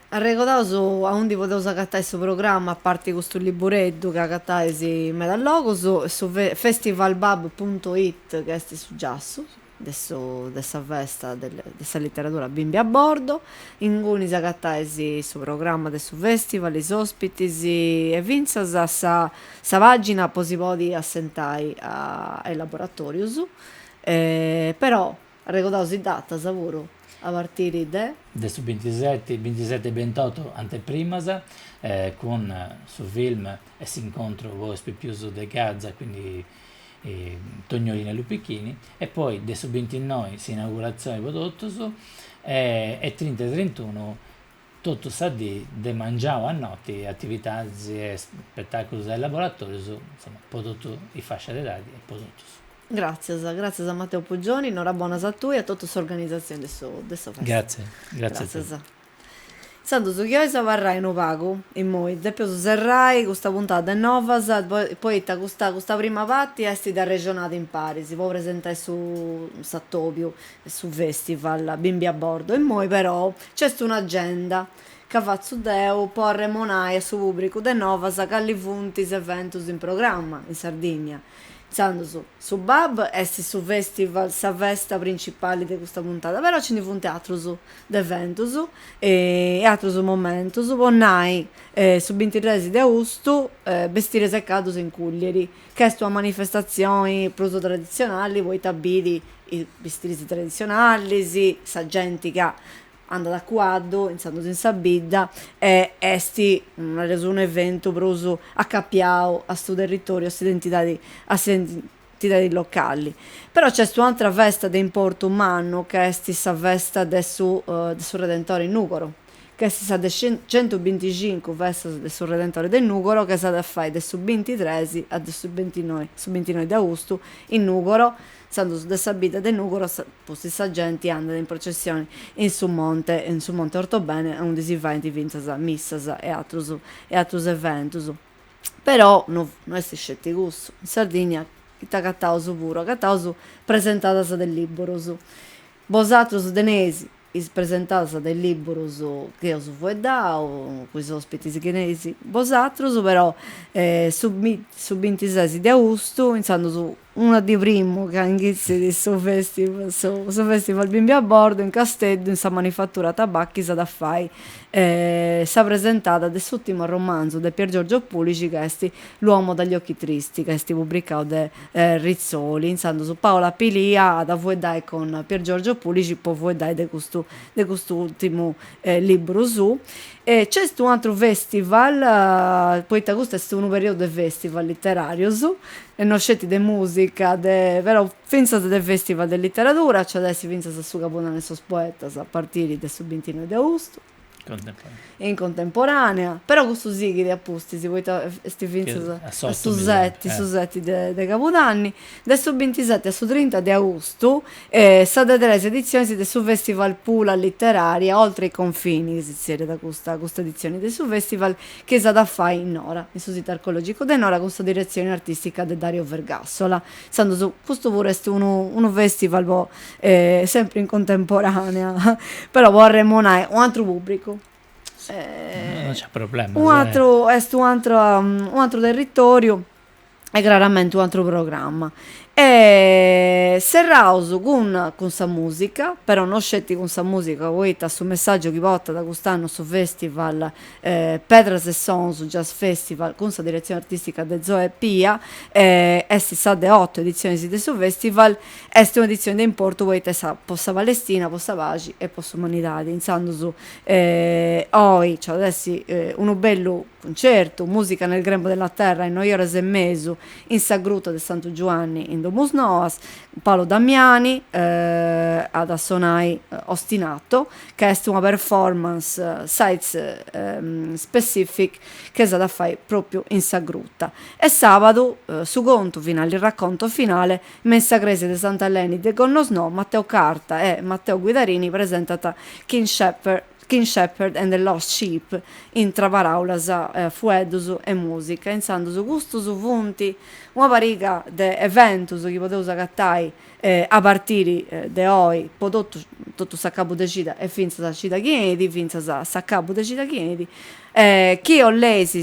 Arregodaus aundi podeus agatai su programma a parti custu libureddu chi agatais in medas logus, su festivalbab punto it chi est su giassu. de su de sa festa de de sa literadura Bimbi a Bordo, ingunis agatais su programma de su festival, is ospitis e fintzas a sa pagina po si podi assentai a a is laboratorius, però arregodaus is datas puru, a partiri de. De su bintiseti, bintiseti e bintotu anteprimas, cun su film e s'incontru po is pipius de Gaza, quindi Tognolini e Lupichini e poi de su bintinnoi s'inauguratzioni po totus e e trinta e trintunu totu sa dì de mangiau a noti atividadis e spetaculus e laboratorius insoma po totu is fascias de edadi e po totus. Gratzias, gratzias a Matteo Puggioni, norabonas a tui e a totu s'organizatzioni de su de su festival. Gratzias, gratzias a tei. Intzandus chi ois abarrai unu pagu, immoi depeus serrai custa puntada de Novas poita custa custa prima parti est de arrexonada imparis po presentai su s'atobiu e su festival bimbi a bordo, immoi perou nc'est un'agenda ca fatzu deu po arremonai a su pubbricu de Novas cali funt is eventus in programma in Sardinnia, intzandus su bab est su festival sa festa principali de custa puntada però nci ndi funt atrus de eventus e atrus momentus po nai su bintitres de austu Bestires e Caddos in Cùllieri ch'est una manifestatzioni prus traditzionali poita bit is bistiris traditzionalis sa genti ca andat a cuaddu intzandus in sa bidda e est nareus un'eventu prus acapiau a su territoriu a s'identidadi a tidadi locali. Però nc'est un'àtera festa de importu mannu ca est sa festa de su de su Redentore in Nùgoro, ca est sa de centubinticincu festas de su Redentore de Nùgoro ca s'at a fai de su bintitres a de su bintinoi, su bintinoi de austu in Nùgoro, intzandus de sa bidda de Nùgoro, pustis sa genti andat in processioni in su monte, in su monte Ortobene aundi si faint fintzas missas e atrus e atrus eventus. però no no est isceti cussu, in Sardigna ite agataus puru, agataus presentadas de libburus, bosatrus teneis is presentadas de is libburus chi eus fueddau cun is ospitis chi teneis bosatrus, però su su bintises de austu intzandus Una dì primu ca inghitzit su festival su su festival bimbi a bordo in Casteddu in sa manifattura Tabacchi s'at a fai sa presentada de s'ùrtimu romanzu de Piergiorgio Pulixi ca est L'uomo dagli occhi tristi ca est pubricau de Rizzoli intzandus Paola Pilia at a fueddai cun Piergiorgio Pulixi po fueddai de custu de custu ùrtimu liburu suu e nc'est u' atru festival poita custu est unu periodu de festival literarius e no sceti de musica de però fintzas de festival de literadura nci at essi fintzas su Cabudanne de sos poetas a partiri de su bintinoi de austu in contemporanea però custu sighit a pustis poita est fintzas a su seti su seti de cabudanni de su bintiseti a su trinta de austu sa de tres edizionis de su festival Pula Letteraria oltre i confini chi si zerriat custa editzioni de su festival chi s'at a fai in Nora, in su Situ Archeològicu de Nora cun sa diretzioni artìstica de Dario Vergassola. Intzandus custu puru est unu unu fèstival po sempri in contemporanea però po arremonai u' atru pùbricu, u' atru est u' atru u' atru territoriu e craramente un'atru programma e serraus cun cun sa mùsica, però no sceti cun sa mùsica poita su messàgiu chi portat cust'annu su festival pedras e sons jazz festival cun sa diretzioni artistica de Zoe Pia est sa de oto editzionis de su festival est un'edizioni de importu poita est sa po sa Palestina po sa paxi e po s'umanidadi intzandus oi nc'at a essi unu bellu Cuncertu, Musica nel grembo della terra, in noi oras e mesu, in sa gruta de Santu Giuanni, in Domus Noas, Paolo Damiani at a sonai Ostinato, ca est una performance site specific chi s'at a fai propriu in sa gruta. E sabadu, su contu finale, il racconto finale, me in sa cresia de Sant'Eleni de Gonnosnò, Matteo Carta e Matteo Guidarini presentant King Shepherd, King Shepherd and the Lost Sheep, intra paràulas, fueddus e mùsica, intzandus custus funt una pariga de eventus chi podeus agatai a partiri de oi po totu totu s'acabu de cida e fintzas a cida chi 'enit, fintzas a s'acabu de cida chi 'enit, chi 'oleis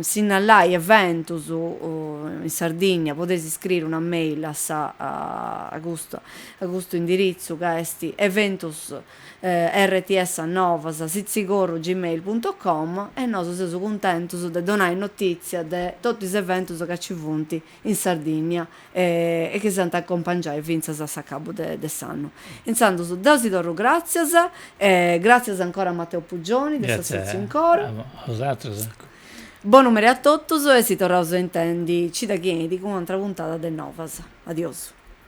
sinnalai eventus in Sardigna podeis iscriri una mail a sa a custu a custu indiritzu ca est eventus rts chiocciola novas sitzigorru gmail punto com e nosu seus cuntentus de donai notìtzia de totu is eventus ca ci funt in Sardìnnia e chi s'ant a acompangiai fintzas a s'acabu de s'annu. Intzandus deu si torru gràtzias e gràtzias ancora a Matteo Puggioni de s'assòtziu in coro. Gràtzias a bosatrus. Bonu meri a totus e si torraus a intendi cida chi 'enit cun u'antra puntada de Novas. Adiosu.